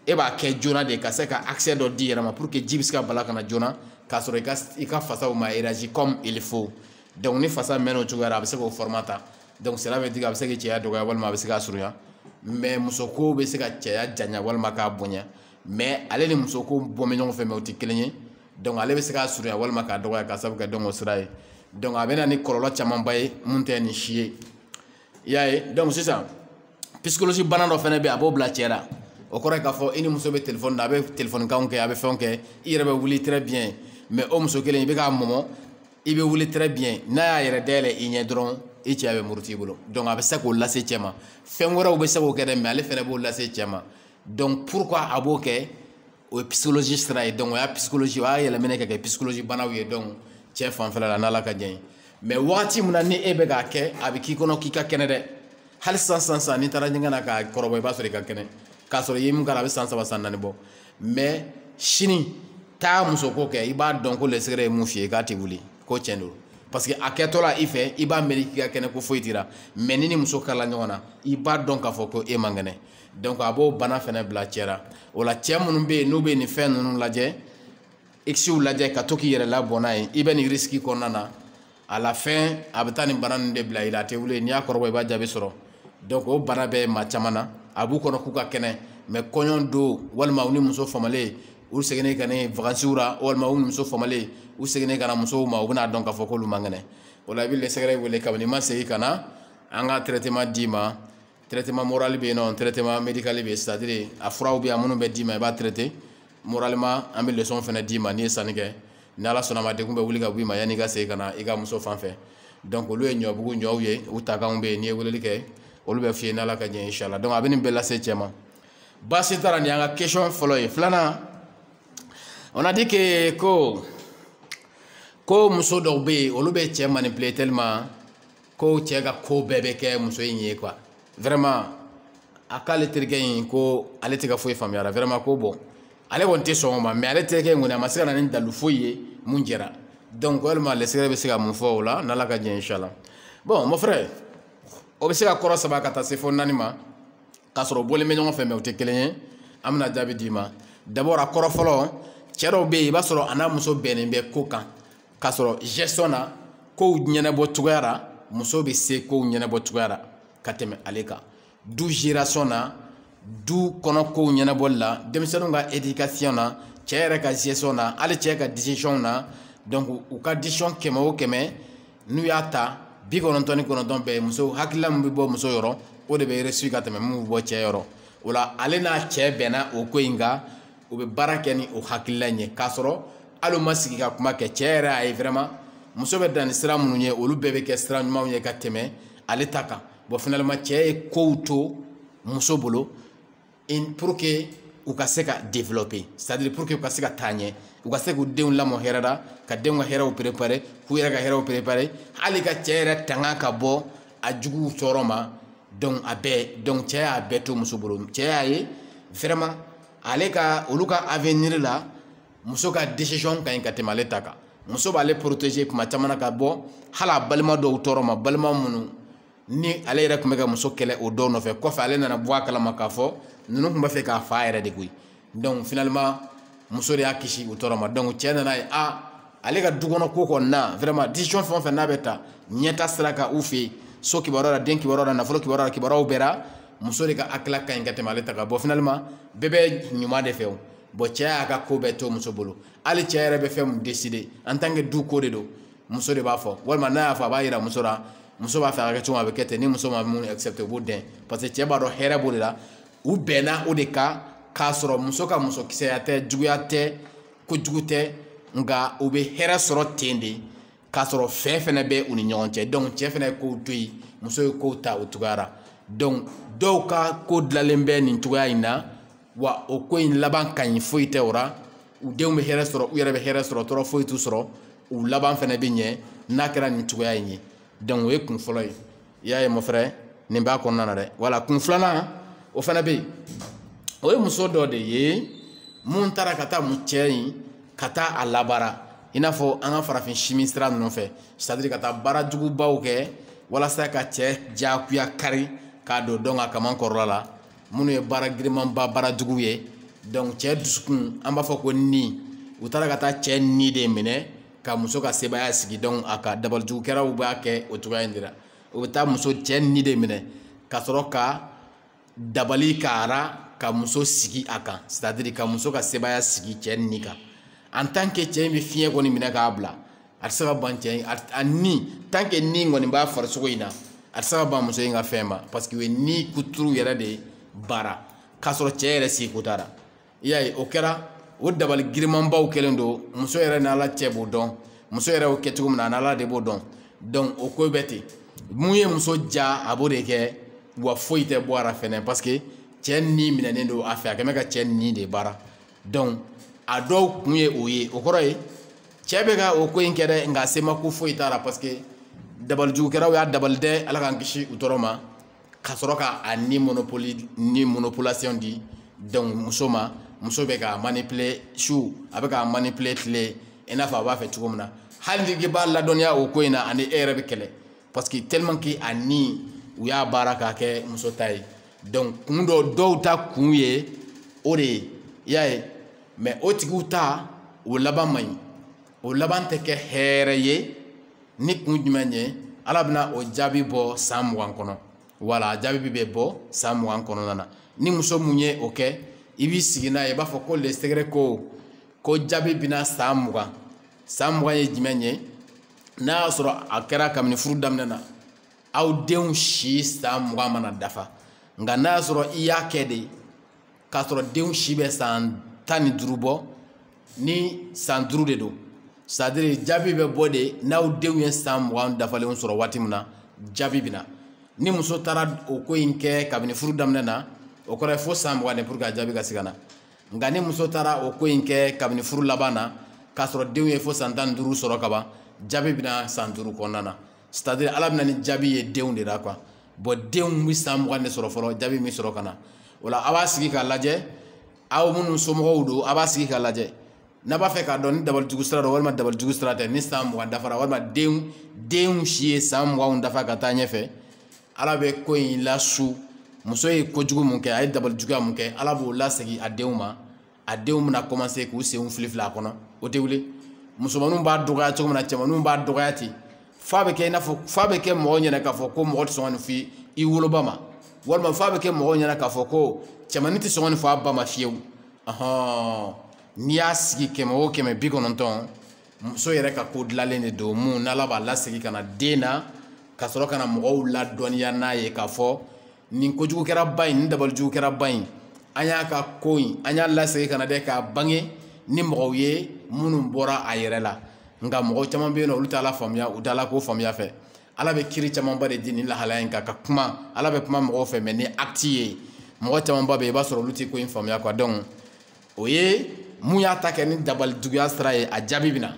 e b'a kɛ joona de ka se ka accès dɔ di yɛrɛ ma pour que ji bɛ se ka bala ka na joona k'a sɔrɔ i ka i ka fasaw ma élargi comme il faut donc ni fasa mɛnna o cogoya la a bɛ se k'o format ta donc cela veut dire a bɛ se k'i cɛya dɔgɔya walima a bɛ se k'a surunya mais muso ko bɛ se ka cɛya janya walima k'a bonya mais ale ni muso ko bɔ bɛ ɲɔgɔn fɛ mais o tɛ kelen ye donc ale bɛ se k'a surunya walima k'a dɔgɔya k'a sababu kɛ donc o sira ye donc a bɛ na ni kɔlɔlɔ camanba ye mun tɛ nin si ye i y'a ye donc sisan psychologie bana dɔ fana bɛ yen a b'o bila cɛ la o kɔrɔ ye k'a fɔ i ni muso bɛ telefɔni na a bɛ telefɔni kanw kɛ a bɛ fɛnw kɛ i yɛrɛ bɛ wuli très bien mais o muso kelen i bɛ k'a mɔmɔ i bɛ wuli très bien n'a y'a yɛrɛ dayɛlɛ i ɲɛ dɔrɔn i cɛya bɛ muruti i bolo donc a bɛ se k'o lase cɛ ma fɛn wɛrɛw bɛ se k'o kɛ dɛ mais ale fana b'o lase cɛ ma donc pourquoi a b'o kɛ o ye psychologie sira ye donc o y'a psychologie o y'a yɛlɛmɛnɛ ka kɛ psychologie banaw ye donc cɛ fanfɛla la n'ala ka jɛn mais wagati min na ni e bɛ k'a kɛ a bɛ k'i kɔnɔ k'i ka kɛnɛ dɛ hali sisan n'i taara ɲɛgɛn na k'a kɔrɔbɔ i b'a sɔrɔ i ka kɛnɛ k'a sɔrɔ i ye min k'a la a bɛ san saba san naani bɔ mais sini taa muso ko kɛ i b'a dɔn ko le secret ye min f'i ye k'a tɛ wuli ko tiɲɛ don parce que a kɛtɔ la i fɛ i b'a miiri k'i ka kɛnɛ ko foyi t'i la mais n'i ni muso kala ɲɔgɔn na i b'a dɔn k'a fɔ ko e man kɛnɛ donc a b'o bana fɛnɛ bila cɛ la o la cɛ minnu bɛ yen n'u bɛ nin fɛn ninnu lajɛ ikisiw lajɛ ka to k'i yɛrɛ labɔ n'a ye i bɛ nin risque kɔnɔna na à la fin a bɛ taa nin bana ninnu de bila i la a tɛ wuli n'i y'a kɔrɔbɔ i b'a jaabi sɔrɔ donc o bana bɛ maa caman na a b'u kɔnɔ k'u ka kɛnɛ mais kɔɲɔ don walima u ni muso famalen u seginnen ka na vacances la walima u ni muso famalen u seginnen ka na musow ma u bɛna dɔn k'a fɔ k'olu man kɛnɛ o la i bɛ le secret wele kabini i ma segin ka na an ka traitement d'i ma traitement moral bɛ yen nɔ traitement médical bɛ yen c'est à dire a furaw bɛ yan minnu bɛ d'i ma i b'a traiter moralement an bɛ leçon fana d'i ma n'i ye sanni kɛ ni ala sɔnna a ma degun bɛ wuli ka bɔ i ma yanni i ka segin ka na i ka muso fan fɛ donc olu ye ɲɔbugu ɲɔw ye u takanw bɛ yen n'i ye weleli kɛ olu bɛ f'i ye n'ala ka jɛn inshallah donc a bɛ nin bɛɛ lase cɛ ma baasi t'a la nin y'an ka question fɔlɔ ye filanan on a dit que ko ko muso dɔw bɛ yen olu bɛ cɛ manipuler tellement ko cɛ ka ko bɛɛ bɛ kɛ muso in ye quoi vraiment a k'ale terikɛ in ko ale tɛ ka foyi faamuya a la vraiment ko bon ale kɔni tɛ sɔn o ma mais ale terikɛ in kɔni a ma se ka na ni dalu foyi ye min jɛra donc walima le secret bɛ se ka mun fɔ o la n'ala ka jɛ inshallah bon mon frère o bɛ se ka kɔrɔ saba ka taa se fo naani ma k'a sɔrɔ bɔlen bɛ ɲɔgɔn fɛ mais o tɛ kelen ye an bɛna jaabi d'i ma d'abord a kɔrɔ fɔlɔ cɛ dɔw bɛ yen i b'a sɔrɔ a n'a muso bɛnnen bɛ ko kan k'a sɔrɔ gestion na kow ɲɛnabɔ cogoya la muso bɛ se kow ɲɛnabɔ cogoya la ka tɛmɛ ale kan du gération na du kɔnɔ kow ɲɛnabɔli la denmisɛnninw ka éducation na cɛ yɛrɛ ka gestion na hali cɛ ka décision na donc u ka décision kɛmɛ o kɛmɛ n'u y'a ta bi kɔnɔntɔn ni kɔnɔntɔn bɛɛ muso hakilila min bɛ bɔ muso yɔrɔ o de bɛ réussir ka tɛmɛ min bɛ bɔ cɛ yɔrɔ o la ale n'a cɛ bɛnna o ko in kan u bɛ baara kɛ ni o hakilila in ye k'a sɔrɔ hali u ma sigi ka kuma kɛ cɛ yɛrɛ a ye vraiment muso bɛ dan ni sira minnu ye olu bɛɛ bɛ kɛ sira ɲumanw ye ka tɛmɛ ale ta kan bon finalement cɛ ye kow to muso bolo pour que u ka se ka développer c'est-à-dire pour que u ka se ka taa ɲɛ u ka se k'u denw lamɔ hɛrɛ la ka denw ka hɛrɛw préparer k'u yɛrɛ ka hɛrɛw préparer hali ka cɛ yɛrɛ tanga ka bɔ a juguw tɔɔrɔ ma donc a bɛɛ donc cɛ y'a bɛɛ to muso bolo cɛ y'a ye vraiment ale ka olu ka avenir la muso ka décision ka ɲi ka tɛmɛ ale ta kan muso b'ale protéger kuma caman na ka bɔ hali a balima dɔw tɔɔrɔ ma balima minnu ni ale yɛrɛ tun bɛ ka muso kɛlɛ o dɔw nɔfɛ kɔfɛ ale nana bɔ a kalama k'a fɔ ninnu tun b'a fɛ k'a fa yɛrɛ de koyi donc finalement muso de y'a kisi o tɔɔrɔ ma donc cɛ nana a ye ale ka du kɔnɔ ko kɔni na vraiment décision fɛn o fɛn n'a bɛ ta ɲɛtaa sira kan u fɛ yen so kibaruya la den kibaruya la nafolo kibaruya la kibaruyaw bɛɛ la muso de ka hakilila ka ɲi ka tɛmɛ ale ta kan bon finalement bɛɛ bɛ ɲuman de fɛ o bon cɛ y'a ka ko bɛɛ to muso bolo hali cɛ yɛrɛ bɛ fɛn mun décider en tant que du ko de don muso de b'a fɔ walima n'a y'a fɔ a b'a yira muso la muso b'a fɛ a ka kɛ cogo min a bɛ kɛ ten ni muso ma mun accepter u b'o dɛn parce que cɛ b'a dɔn hɛrɛ b'o de la u bɛnna o de kan k'a sɔrɔ muso ka musokisɛya tɛ juguya tɛ kojugu tɛ nka u bɛ hɛrɛ sɔrɔ ten de k'a sɔrɔ fɛ fɛnɛ bɛ u ni ɲɔgɔn cɛ donc cɛ fɛnɛ ye kow to yen muso ye kow ta o cogoya ra donc dɔw ka ko dilanlen bɛ nin cogoya in na wa o ko in laban ka ɲi foyi tɛ o ra u denw bɛ hɛrɛ sɔrɔ u yɛrɛ bɛ hɛrɛ sɔrɔ tɔɔrɔ foyi t'u sɔrɔ u laban fɛnɛ bɛ ɲɛ n'a kɛra nin cogoya in ye donc o ye kun fɔlɔ ye i y'a ye mon frère nin b'a kɔnɔna na dɛ voilà kun filanan o fɛnɛ bɛ yen o ye muso dɔ de ye mun taara ka taa mu cɛ in ka taa a labaara i n'a fɔ an ka farafin simi sira ninnu fɛ c'est-à-dire ka taa baara jugubaw kɛ walasa ka cɛ diyagoya kari k'a don donc a kaman kɔrɔla la minnu ye baara girimanba baara juguw ye donc cɛ dusukun an b'a fɔ ko ni u taara ka taa cɛ ni de minɛ ka muso ka sebaaya sigi donc a ka dabalijugukɛlaw b'a kɛ o cogoya in de la u bɛ taa muso cɛ ni de minɛ ka sɔrɔ ka dabali k'a ra ka muso sigi a kan c'est-à-dire ka muso ka sebaaya sigi cɛ ni kan en tant que cɛ in bɛ fiɲɛ kɔni minɛ k'a bila a tɛ se ka ban cɛ in a ni tant que ni kɔni b'a farisogo in na a tɛ se ka ban muso in ka fɛn ma parce que o ye ni kuturu yɛrɛ de baara k'a sɔrɔ cɛ yɛrɛ sigi ko t'a la i y'a ye o kɛra o dabali girimanbaw kɛlen don muso yɛrɛ ni ala cɛ b'o dɔn muso yɛrɛ y'o kɛ cogo min na ani ala de b'o dɔn donc o ko bɛ ten mun ye muso diya a b'o de kɛ wa foyi tɛ bɔ a ra fɛnɛ parce que cɛ ni minɛnen don a fɛ a kɛ bɛ ka cɛ ni de baara donc a dɔw kun ye o ye o kɔrɔ ye cɛ bɛ ka o ko in kɛ dɛ nka sema ko foyi t'a la parce que dabalijugukɛlaw y'a dabali dɛ ala k'an kisi u tɔɔrɔ ma ka sɔrɔ ka a ni monopoli ni monopolisation di donc muso ma muso bɛ k'a manipuler su a bɛ k'a manipuler tile i n'a fɔ a b'a fɛ cogo min na hali n'i b'a ladɔnniya o ko in na a ni e yɛrɛ bɛ kɛlɛ parce que tellement que a ni u y'a baara k'a kɛ muso ta ye donc kun dɔ dɔw ta kun ye o de ye i y'a ye mais o tigiw ta o laban man ɲi o laban tɛ kɛ hɛrɛ ye ni kun jumɛn ye ala bɛna o jaabi bɔ san mugan kɔnɔ wala a jaabi bɛ bɔ san mugan kɔnɔna na ni muso mun ye o kɛ i b'i sigi n'a ye i b'a fɔ ko le secret ko ko jaabi bɛ na san mugan san mugan ye jumɛn ye n'a y'a sɔrɔ a kɛra kabini furu daminɛ na aw denw si san mugan mana dafa nka n'a y'a sɔrɔ i y'a kɛ de k'a sɔrɔ denw si bɛ san tan ni duuru bɔ ni san duuru de don c'est à dire jaabi bɛ bɔ de n'aw denw ye san mugan dafalenw sɔrɔ waati min na jaabi bɛ na ni muso taara o ko in kɛ kabini furu daminɛ na o kɔrɔ ye fo san mugan de pour que a jaabi ka se ka na nka ni muso taara o ko in kɛ kabini furu laban na k'a sɔrɔ denw ye fo san tan ni duuru sɔrɔ kaban jaabi bɛ na san duuru kɔnɔna na c'est à dire ala bɛ na ni jaabi ye denw de la quoi bon denw bɛ san mugan de sɔrɔ fɔlɔ jaabi bɛ sɔrɔ ka na o la a b'a sigi k'a lajɛ aw minnu somɔgɔw don a b'a sigi k'a lajɛ n'a b'a fɛ k'a dɔn ni dabalijugu sira don walima dabalijugu sira tɛ ni san mugan dafara walima denw denw si ye san muganw dafa ka taa ɲɛfɛ ala bɛ ko in lase muso ye kojugu mun kɛ a ye dabalijuguya mun kɛ ala b'o lasegin a denw ma a denw bɛna commencer k'u senw filifili a kɔnɔ o tɛ wuli musomaninw b'a dɔgɔya cogo min na cɛmaninw b'a dɔgɔya ten f'a bɛ kɛ i n'a fɔ f'a bɛ kɛ mɔgɔ ɲɛna k'a fɔ ko mɔgɔ tɛ sɔn ka nin fɔ i woloba ma walima f'a bɛ kɛ mɔgɔ ɲɛna k'a fɔ ko cɛmanin tɛ sɔn ka nin fɔ a ba ma fiyewu ɔhɔn n'i y'a sigi kɛmɛ o kɛmɛ bi kɔnɔntɔn muso yɛrɛ ka ko dilanlen de don mun n'ala b'a lasegin ka na den na ka sɔrɔ ka na mɔgɔw ladɔnniya n'a ye k'a fɔ nin kojugukɛla ba in nin dabalijugukɛla ba in an y'a ka ko in an y'a lasegin ka na dɛ k'a bange ni mɔgɔw ye minnu bɔra a yɛrɛ la nka mɔgɔ caman bɛ yen n'olu t'ala faamuya u t'ala ko faamuya fɛ ala bɛ kiiri camanba de di nin lahalaya in kan ka kuma ala bɛ kuma mɔgɔw fɛ mais ni acte ye mɔgɔ camanba bɛ yen i b'a sɔrɔ olu tɛ ko in faamuya quoi donc o ye mun y'a ta kɛ ni dabalijuguya sira ye a jaabi bɛ na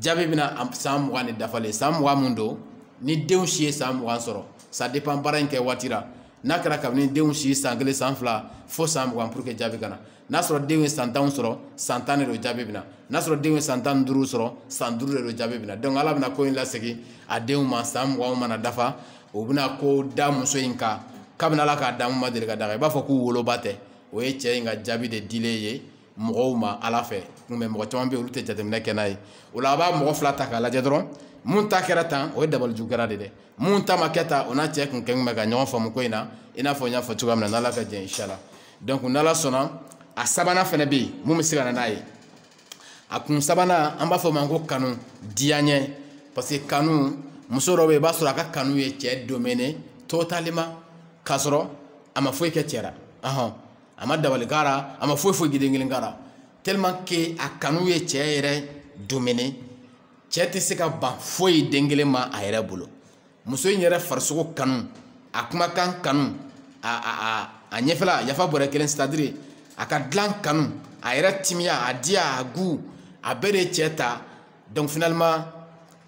jaabi bɛna san mugan de dafalen san mugan mun don ni denw si ye san mugan sɔrɔ ça dépend baara in kɛ waati la n'a kɛra kabini denw si san kelen san fila fo san mugan pour que jaabi ka na n'a sɔrɔ denw ye san tan sɔrɔ san tan de don jaabi bɛna n'a sɔrɔ denw ye san tan ni duuru sɔrɔ san duuru de don jaabi bɛna donc ala bɛna ko in lasegin a denw ma san mugan mana dafa o bɛna ko da muso in kan kabini ala k'a da mun ma deli ka d'a kan i b'a fɔ k'u woloba tɛ o ye cɛ in ka jaabi de dilen ye mɔgɔw ma ala fɛ mais mɔgɔ caman bɛ yen olu tɛ jateminɛ kɛ n'a ye o la a b'a mɔgɔ fila ta k'a lajɛ dɔrɔn mun ta kɛra tan o ye dabalijugu kɛra de dɛ mun ta ma kɛ tan o n'a cɛ kun kɛn bɛ ka ɲɔgɔn faamu ko in na i n'a fɔ n y'a fɔ cogoya min na n'ala ka jɛ inshala donc n'ala sɔnna a sabanan fana bɛ yen mun bɛ se ka na n'a ye a kun sabanan an b'a fɔ o ma ko kanu diyaɲɛ parce que kanu muso dɔ bɛ yen i b'a sɔrɔ a ka kanu ye cɛ dominer totalement k'a sɔrɔ a ma foyi kɛ cɛ la ɔhɔn a ma dabali k'a la a ma foyi foyi den kelen k'a la tellement que a kanu ye cɛ yɛrɛ dominer cɛ tɛ se ka ban foyi den kelen ma a yɛrɛ bolo muso in yɛrɛ farisogo kanu a kumakan kanu a a a a ɲɛfɛla yafa bɔrɛ kelen c'est à dire a ka dilan kanu a yɛrɛ timiya a diya a goût a bɛɛ de ye cɛ ta donc finalement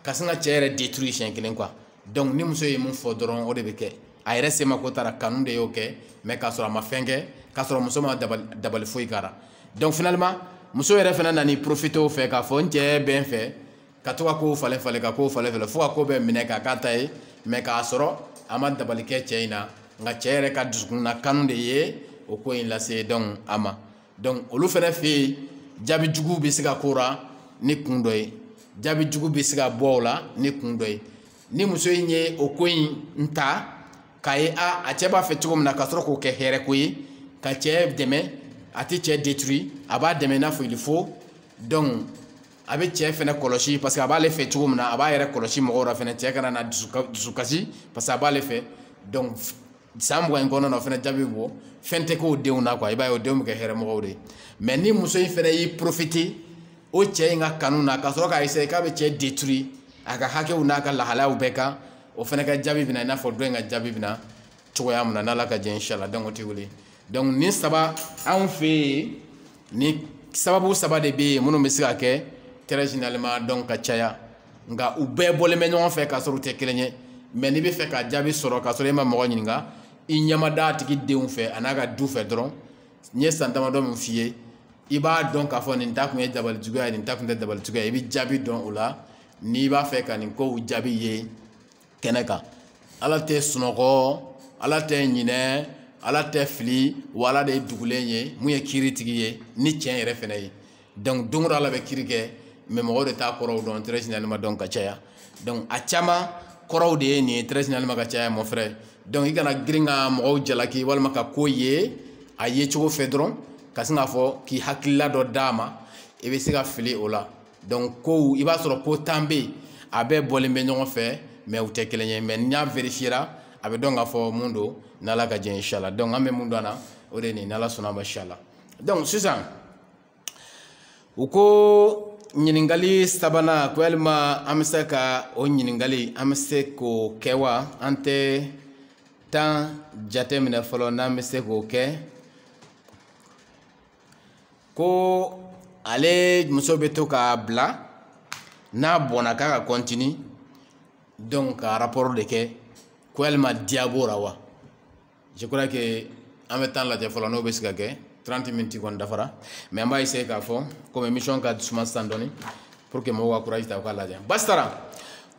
ka sin ka cɛ yɛrɛ détruire siɲɛ kelen quoi donc ni muso ye mun fɔ dɔrɔn o de bɛ kɛ a yɛrɛ semako taara kanu de y'o kɛ mais k'a sɔrɔ a ma fɛn kɛ k'a sɔrɔ muso ma dabali foyi k'a la donc finalement muso yɛrɛ fana nana i profiter o fɛ k'a fɔ n cɛ bɛ n fɛ ka to ka kow falen falen ka kow falen falen fo ka ko bɛɛ minɛ k'a k'a ta ye mais k'a sɔrɔ a ma dabali kɛ cɛ in na nka cɛ yɛrɛ ka dusukun na kanu de ye o ko in lase donc a ma donc olu fana fɛ yen jaabi jugu bɛ se ka k'o la ni kun dɔ ye jaabi jugu bɛ se ka bɔ o la ni kun dɔ ye ni muso in ye o ko in ta k'a ye a a cɛ b'a fɛ cogo min na ka sɔrɔ k'o kɛ hɛrɛ ko ye ka cɛ dɛmɛ a tɛ cɛ détruire a b'a dɛmɛ i n'a fɔ il faut donc a bɛ cɛ fɛnɛ kɔlɔsi parce que a b'ale fɛ cogo min na a b'a yɛrɛ kɔlɔsi mɔgɔw la fɛnɛ cɛ kana na dusukasi parce que a b'ale fɛ donc san mugan in kɔnɔna na o fɛnɛ jaabi bɛ bɔ fɛn tɛ k'o denw na quoi i b'a ye o denw bɛ kɛ hɛrɛmɔgɔw de ye mais ni muso in fɛnɛ y'i profiter o cɛ in ka kanu na ka sɔrɔ k'a essayer k'a bɛ cɛ détruire a ka hakɛw n'a ka lahalayaw bɛɛ kan o fɛnɛ ka jaabi bɛna i n'a fɔ dɔ in ka jaabi bɛna cogoya min na n'ala ka jɛ inshala donc o tɛ wuli donc nin saba anw fɛ yen nin sababu saba de bɛ yen minnu bɛ se ka kɛ très généralement donc ka caya nka u bɛɛ bɔlen bɛ ɲɔgɔn fɛ k'a sɔrɔ u tɛ kelen ye mais n'i bɛ fɛ ka jaabi sɔrɔ k'a sɔrɔ e ma mɔgɔ ɲininka i ɲɛ mad'a tigi denw fɛ a n'a ka du fɛ dɔrɔn n ye san damadɔ min f'i ye i b'a dɔn k'a fɔ nin ta kun ye dabali juguya ye nin ta kun tɛ dabali juguya ye i bɛ jaabi dɔn o la n'i b'a fɛ ka nin kow jaabi ye kɛnɛ kan ala tɛ sunɔgɔ ala tɛ ɲinɛ ala tɛ fili wa ala de ye dugulen ye mun ye kiiri tigi ye ni tiɲɛ yɛrɛ fɛnɛ ye donc don o don ala bɛ kiiri kɛ mais mɔgɔw de t'a kɔrɔw dɔn très généralement donc ka caya donc a caman kɔrɔw de ye nin ye très généralement ka caya mon frère donc i kana girin ka mɔgɔw jalaki walima ka ko ye a ye cogo fɛ dɔrɔn ka sin k'a fɔ k'i hakilila dɔ d'a ma i bɛ se ka fili o la donc kow i b'a sɔrɔ ko tan bɛ yen a bɛɛ bɔlen bɛ ɲɔgɔn fɛ mais u tɛ kelen ye mais n'i y'a verifiyera a bɛ dɔn k'a fɔ mun don n'ala ka jɛ inshala donc an bɛ mun dɔn a la o de ye nin n'ala sɔnn'a ma inshala donc sisan u ko ɲininkali sabanan ko yalima an bɛ se ka o ɲininkali an bɛ se k'o kɛ wa an tɛ temps jateminɛ fɔlɔ n'an bɛ se k'o kɛ ko ale muso bɛ to k'a bila n'a bɔnna k'a ka continuer donc ka rapport de kɛ ko yalima diya b'o la wa je crois que an bɛ temps lajɛ fɔlɔ n'o bɛ se ka kɛ 30 minutes kɔni dafara mais an b'a essayer k'a fɔ comme émission ka suma sisan dɔɔni pour que mɔgɔw ka courage ta u k'a lajɛ basi t'a la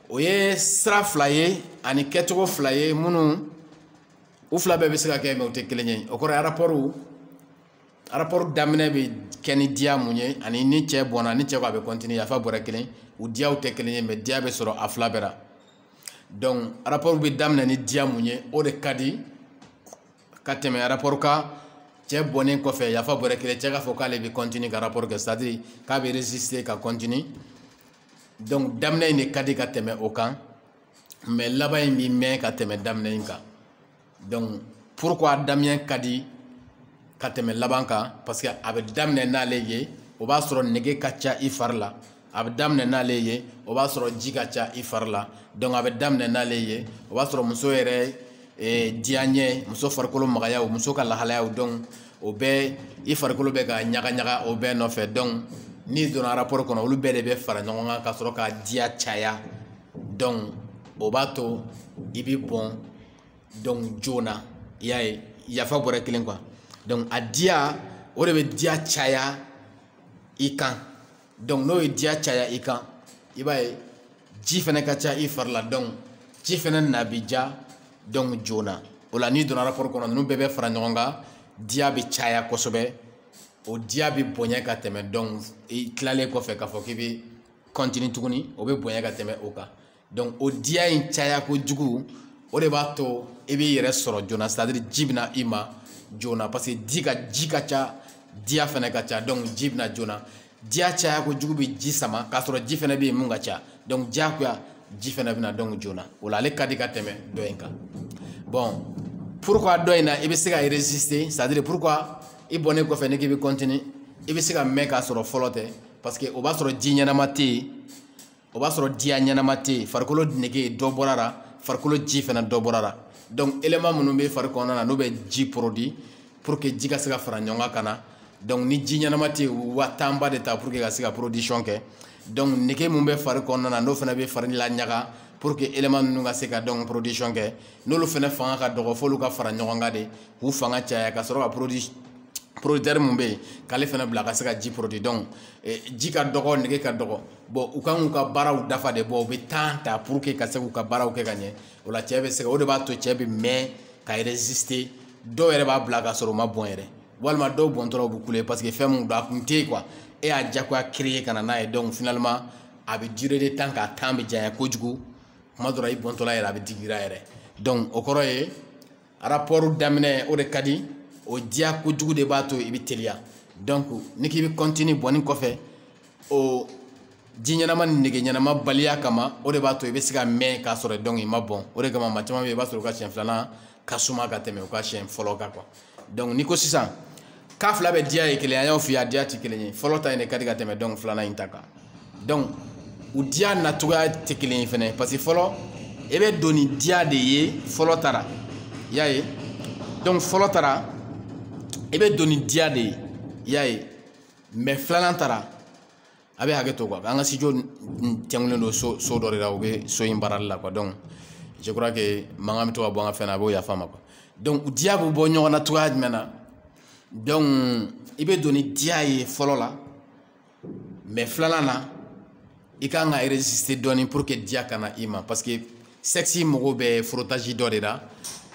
o ye sira fila ye ani kɛcogo fila ye minnu u fila bɛɛ bɛ se ka kɛ mais u tɛ kelen ye o kɔrɔ ye rapport daminɛ bɛ kɛ ni diya mun ye ani ni cɛ bɔnna ni cɛ ko a bɛ continuer yafa bɔra kelen u diyaw tɛ kelen ye mais diya bɛ sɔrɔ a fila bɛɛ la donc rapport bɛ daminɛ ni diya mun ye o de ka di ka tɛmɛ rapport kan cɛ bɔnnen kɔfɛ yafa bɔra kelen cɛ k'a fɔ k'ale bɛ continuer ka rapport kɛ c'est à dire k'a bɛ résister ka continuer donc daminɛ in de ka di ka tɛmɛ o kan mais laban in bɛ mɛn ka tɛmɛ daminɛ in kan donc pourquoi daminɛ ka di ka tɛmɛ laban kan parce que a bɛ daminɛ n'ale ye o b'a sɔrɔ nege ka ca i fari la a bɛ daminɛ n'ale ye o b'a sɔrɔ ji ka ca i fari la donc a bɛ daminɛ n'ale ye o b'a sɔrɔ muso yɛrɛ eh, diyaɲɛ muso farikolo magayaw muso ka lahalayaw donc o bɛɛ i farikolo bɛ ka ɲaga ɲaga o bɛɛ nɔfɛ donc n'i donna rapport kɔnɔ olu bɛɛ de bɛ fara ɲɔgɔn kan ka sɔrɔ ka diya caya donc o b'a to i bɛ bɔn donc joona i y'a ye yafa bɔra kelen quoi donc a diya o de bɛ diya caya i kan donc n'o ye diya caya i kan i b'a ye ji fɛnɛ ka ca i fari la donc ji fɛnɛ na bi ja donc joona o la n'i donna rapport kɔnɔ ninnu bɛɛ bɛ fara ɲɔgɔn kan diya bɛ caya kosɛbɛ o diya bɛ bonya ka tɛmɛ donc i tilalen kɔfɛ k'a fɔ k'i bɛ continue tuguni o bɛ bonya ka tɛmɛ o kan donc o diya in caya kojugu o de b'a to i b'i yɛrɛ sɔrɔ joona c'est à dire ji bɛ na i ma joona parce que ji ka ji ka ca diya fana ka ca donc ji bɛ na joona diya caya kojugu bɛ ji sama k'a sɔrɔ ji fana bɛ yen mun ka ca donc diyagoya ji fana bɛ na donc joona o la ale ka di ka tɛmɛ dɔ in kan bon pourquoi dɔ in na i bɛ se ka résister c'est à dire pourquoi i bɔnnen kɔfɛ ni k'i bɛ continuer i bɛ se ka mɛn k'a sɔrɔ fɔlɔ tɛ. parce que o b'a sɔrɔ ji ɲɛnama tɛ yen o b'a sɔrɔ diya ɲɛnama tɛ yen farikolo nege dɔ bɔra la farikolo ji fɛnɛ dɔ bɔra la donc élément minnu bɛ fari kɔnɔna na n'o bɛ ji produit pour que ji ka se ka fara ɲɔgɔn kan ka na donc ni ji ɲɛnama tɛ yen u bɛ wa temps ba de ta pour que ka se ka production kɛ donc nege min bɛ fari kɔnɔna na n'o fana bɛ fari laɲaga pour que élément ninnu ka se ka donc production kɛ n'olu fana fanga ka dɔgɔ f'olu ka fara ɲɔgɔn kan de k'u fanga caya ka sɔrɔ ka produit producteur mun bɛ yen k'ale fana bila ka se ka ji produit donc eh, ji ka dɔgɔ nege ka dɔgɔ bon u kan k'u ka baaraw dafa de bon u bɛ temps ta pour que ka se k'u ka baaraw kɛ ka ɲɛ o la cɛ bɛ se ka o de b'a to cɛ bɛ mɛn ka résister dɔw yɛrɛ b'a bila ka sɔrɔ u ma bɔn yɛrɛ walima dɔw bɔntɔla u bɛ kule parce que fɛn mun don a kun tɛ yen quoi e y'a diyagoya créer ka na n'a ye donc finalement a bɛ durer de temps k'a temps bɛ janya kojugu tuma dɔ la i bɔntɔla yɛrɛ a bɛ digi i ra yɛrɛ donc o kɔrɔ ye rapport daminɛ o de ka di o diya kojugu de b'a to i bɛ teliya donc ni k'i bɛ continue bɔnni kɔfɛ o ji ɲɛnama ni nege ɲɛnama baliya kama o de b'a to i bɛ se ka mɛn k'a sɔrɔ donc i ma bɔn o de kama maa caman bɛ yen i b'a sɔrɔ u ka siɲɛ filanan ka suma ka tɛmɛ u ka siɲɛ fɔlɔ kan quoi donc n'i ko sisan k'a fila bɛɛ diya ye kelen ye an y'o f'i ye a diya tɛ kelen ye fɔlɔ ta in de ka di ka tɛmɛ donc filanan in ta kan donc u diya nacogoya tɛ kelen ye fɛnɛ parce que fɔlɔ i bɛ don ni diya de ye fɔlɔ ta ra i y'a ye donc fɔlɔ ta ra i bɛ don ni diya de ye i y'a ye mais filanan ta ra a bɛ hakɛ to quoi an ka studio tɛnkulen don so dɔ de la u bɛ so in baarali la quoi donc je crois que mankan bɛ to ka bɔ an ka fɛn na a b'o yafa an ma quoi donc diya bɛ bɔ ɲɔgɔn na cogoya jumɛn na donc i bɛ don ni diya ye fɔlɔ la mais filanan na i ka kan ka résister dɔɔni pour que diya ka na i ma parce que sexe mago bɛ frottage dɔ de la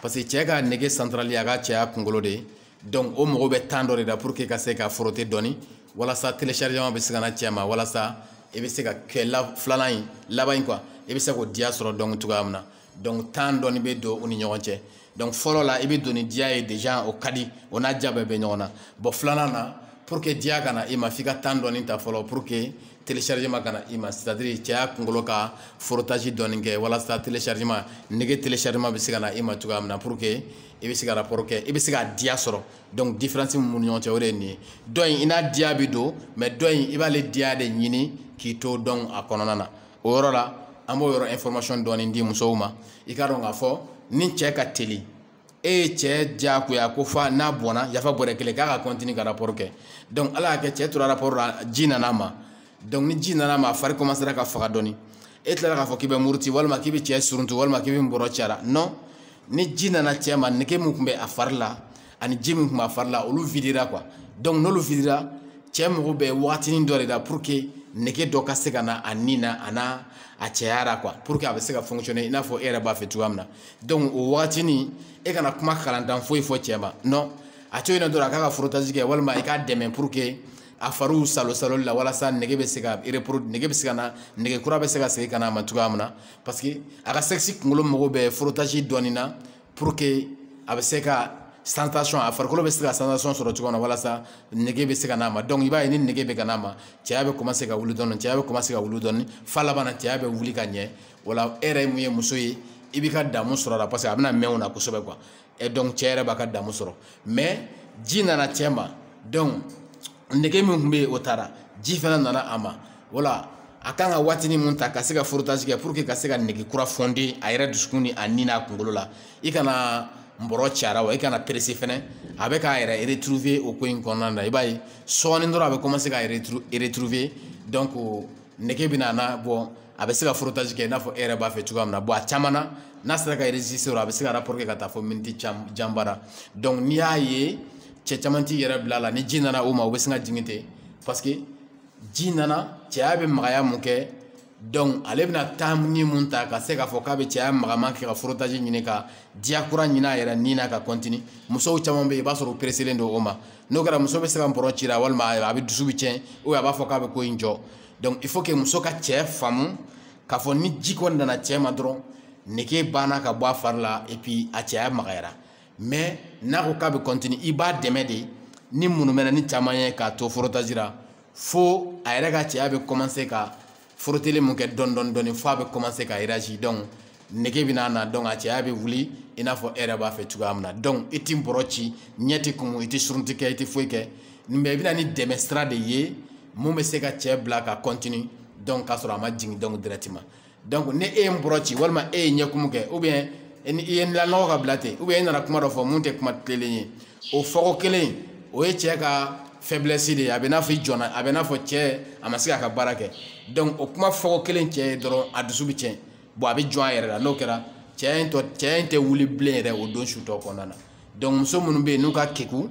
parce que cɛ ka nege centrale y'a ka cɛya kunkolo de ye donc o mago bɛ temps dɔ de la pour que ka se ka frotter dɔɔni walasa téléchargement bɛ se ka na cɛ ma walasa i bɛ se ka kɛ la filanan in laban in quoi i bɛ se k'o diya sɔrɔ donc cogoya min na donc temps dɔɔni bɛ don u ni ɲɔgɔn cɛ donc fɔlɔ la i bɛ don ni diya ye déjà o ka di o n'a diya bɛɛ bɛ ɲɔgɔn na bon filanan na pour que diya ka na i ma f'i ka temps dɔɔni ta fɔlɔ pour que téléchargement ka na i ma c'est à dire cɛya kunkolo ka frottage dɔɔni kɛ walasa téléchargement nege téléchargement bɛ se ka na i ma cogoya min na pour que i bɛ se ka rapport kɛ i bɛ se ka diya sɔrɔ donc différence min b'u ni ɲɔgɔn cɛ o de ye nin ye dɔ in i n'a diya bɛ don mais dɔ in i b'ale diya de ɲini k'i to donc a kɔnɔna na o yɔrɔ la an b'o yɔrɔ information dɔɔni di musow ma i k'a dɔn k'a fɔ ni cɛ ka teli e ye cɛ diyagoya ko fa n'a bɔnna yafa bɔrɛ kelen k'a ka continuer ka rapport kɛ donc ala y'a kɛ cɛ tora rapport la ji nana a ma donc ni ji nana ma a fari commencera ka faga dɔɔni e tilara k'a fɔ k'i bɛ muruti walima k'i bɛ cɛ suruntu walima k'i bɛ nbɔrɔ ci a la non ni ji nana cɛ ma nege min tun bɛ a fari la ani ji min tun b'a fari la olu videra quoi donc n'olu videra cɛ mago bɛ wagatinin dɔ de la pour que nege dɔ ka se ka na a ni na a n'a a cɛya la quoi pour que a bɛ se ka fonctionner i n'a fɔ e yɛrɛ b'a fɛ cogoya min na donc o wagatinin e kana kuma kalantan foyi fɔ cɛ ma non a to yen nɔ dɔrɔn a k'a ka frottage kɛ walima i k'a dɛmɛ pour que a fariw salosaloli la walasa nege bɛ se ka repro nege bɛ se ka na nege kura bɛ se ka segin ka na a ma cogoya min na parce que a ka sexe kunkolo mago bɛ frottage dɔɔni na pour que a bɛ se ka sensation a farikolo bɛ se ka sensation sɔrɔ cogo min na walasa nege bɛ se ka n'a ma donc i b'a ye ni nege bɛ ka n'a ma cɛya bɛ commencer ka wuli dɔɔni cɛya bɛ commencer ka wuli dɔɔni f'a laban na cɛya bɛ wuli ka ɲɛ o la e yɛrɛ mun ye muso ye i b'i ka damu sɔrɔ a la parce que a bɛna mɛn o la kosɛbɛ quoi et donc cɛ yɛrɛ b'a ka damu sɔrɔ mais ji nana cɛ ma donc nege min tun bɛ yen o taara ji fana nana a ma wala a kan ka waatinin mun ta ka se ka frottage kɛ pour que ka se ka nege kura fonder a yɛrɛ dusukun ni a ni n'a kunkolo la i kana nbɔrɔ ci a la wa i kana presser fɛnɛ a bɛ k'a yɛrɛ retrouver o ko in kɔnɔna na i b'a ye sɔɔni dɔrɔn a bɛ commencer k'a retrouver donc nege bɛna na bon a bɛ se ka frottage kɛ i n'a fɔ e yɛrɛ b'a fɛ cogoya min na bon a caman na n'a sera ka sɔrɔ a bɛ se ka rapport kɛ ka taa fo miniti janba la donc n'i y'a ye cɛ caman t'i yɛrɛ bila a la ni ji nana o ma o bɛ sin ka jigin ten parce que ji nana cɛya bɛ magaya mun kɛ donc ale bɛna temps nin mun ta ka se k'a fɔ k'a bɛ cɛya magaman kɛ ka frottage ɲini ka diya kura ɲini a yɛrɛ ni na ka continuer musow caman bɛ yen i b'a sɔrɔ u presselen don o ma n'o kɛra muso bɛ se ka nbɔrɔ ci a la walima a bɛ dusu bɛ tiɲɛ ou a b'a fɔ k'a bɛ ko in jɔ donc il faut que muso ka cɛ faamu k'a fɔ ni ji kɔni nana cɛ ma dɔrɔn nege banna ka bɔ a fari la et puis a cɛya magayara mais n'a ko k'a bɛ continuer i b'a dɛmɛ de ni munumɛnɛni caman ye k'a to frottage la fo a yɛrɛ ka cɛya bɛ commencer ka frotteli mun kɛ dɔɔni dɔɔni dɔɔni f'a bɛ commencer ka réagir donc nege bɛ n'a na donc a cɛya bɛ wuli i n'a fɔ e yɛrɛ b'a fɛ cogoya min na donc i t'i bɔrɔ ci ɲɛ tɛ kumu i tɛ surunti kɛ i tɛ foyi kɛ mais i bɛna ni dɛmɛ sira de ye mun bɛ se ka cɛ bila ka continuer donc k'a sɔrɔ a ma jigin donc directement donc ni e ye nbɔrɔ ci walima e ye ɲɛkumu kɛ ou bien e ni i ye lanɔgɔ ka bila ten ou bien i nana kuma dɔ fɔ mun tɛ kuma tilenlen ye o fɔko kelen o ye cɛ ka faiblesse de ye a bɛ n'a fɔ i jɔnna a bɛ n'a fɔ cɛ a ma se k'a ka baara kɛ donc o kuma fɔko kelen cɛ ye dɔrɔn a dusu bɛ tiɲɛ bon a bɛ jɔn a yɛrɛ la n'o kɛra cɛ in tɔ cɛya in tɛ wuli bilen yɛrɛ o don su tɔ kɔnɔna na donc muso minnu bɛ yen n'u ka keku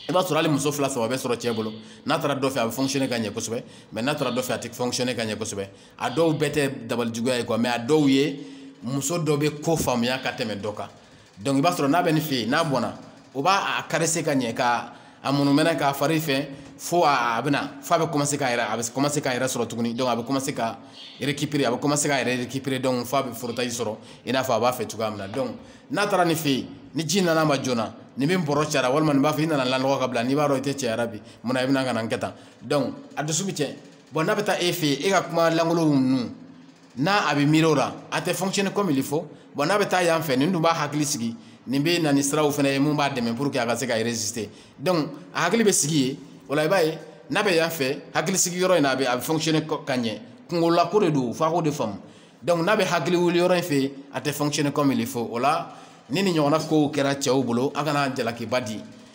i b'a sɔrɔ hali muso fila saba bɛ sɔrɔ cɛ bolo n'a taara dɔ fɛ a bɛ fonctionner ka ɲɛ kosɛbɛ mais n'a taara dɔ fɛ a tɛ fonctionner ka ɲɛ kosɛbɛ a dɔw bɛɛ tɛ dabali juguya ye quoi mais a dɔw ye muso dɔ bɛ ko faamuya ka tɛmɛ dɔ kan donc i b'a sɔrɔ n'a bɛ nin fɛ yen n'a bɔnna o b'a caresser ka ɲɛ ka a munumɛnɛ k'a fari fɛ fo a bɛna fo a bɛ commencer k'a yɛrɛ a bɛ commencer k'a yɛrɛ sɔrɔ tuguni donc a bɛ commencer ka récupérer a bɛ commencer k'a yɛrɛ récupérer donc fo a bɛ frottage sɔrɔ i n'a fɔ a b'a fɛ cogoya min na donc n'a taara nin fɛ yen ni ji nana ma joona nin min bɔrɔ cayara walima nin b'a fɔ i nana lanɔgɔ ka bila n'i b'a dɔn i tɛ cɛya la bi mun na i bɛna ka na n kɛ tan donc a dusu bɛ cɛn bon n'a bɛ taa e fɛ yen e ka kuma lankolon ninnu n'a a bɛ miiri o la a tɛ fonctionner comme il faut bon n'a bɛ taa yan fɛ nin dun b'a hakili sigi nin bɛ na ni siraw fana ye mun b'a dɛmɛ pour que a ka se ka résister donc a hakili bɛ sigi yen o la i b'a ye n'a bɛ yan fɛ hakili sigi yɔrɔ in na a bɛ a bɛ fonctionner ka ɲɛ kungolako de don f'a k'o de faamu donc n'a bɛ hakili wuli yɔrɔ in fɛ a tɛ fonctionner comme il faut o la ni nin ɲɔgɔnna kow kɛra cɛw bolo a kana jalakiba di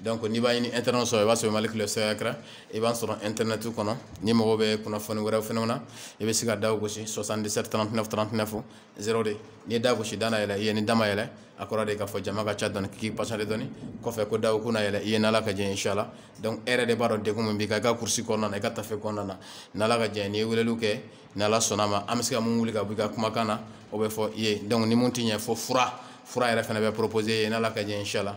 donc n'i b'a ɲini internet sɔrɔ i b'a sɔrɔ mali kile secret i b'a sɔrɔ internet kɔnɔ n'i mago bɛ kunnafoni wɛrɛw fɛnɛ na i bɛ se ka da gosi 77 39 39 02 n'i ye da gosi da na yɛlɛ i ye ni da ma yɛlɛ a kɔrɔ de k'a fɔ jama ka ca dɔɔni k'i patienter dɔɔni kɔfɛ ko daw ko na yɛlɛ i ye n'ala ka jɛ inshallah donc e yɛrɛ de b'a dɔn degun min b'i kan i ka kurusi kɔnɔna na i ka tafe kɔnɔna na n'ala ka jɛ n'i ye weleliw kɛ n'ala sɔnna ma an bɛ se ka mun wuli ka bɔ i ka kumakan na o bɛ fɔ i ye donc ni mun tɛ ɲɛ fo fura fura yɛrɛ fana bɛ proposer i ye n'ala ka jɛ inshallah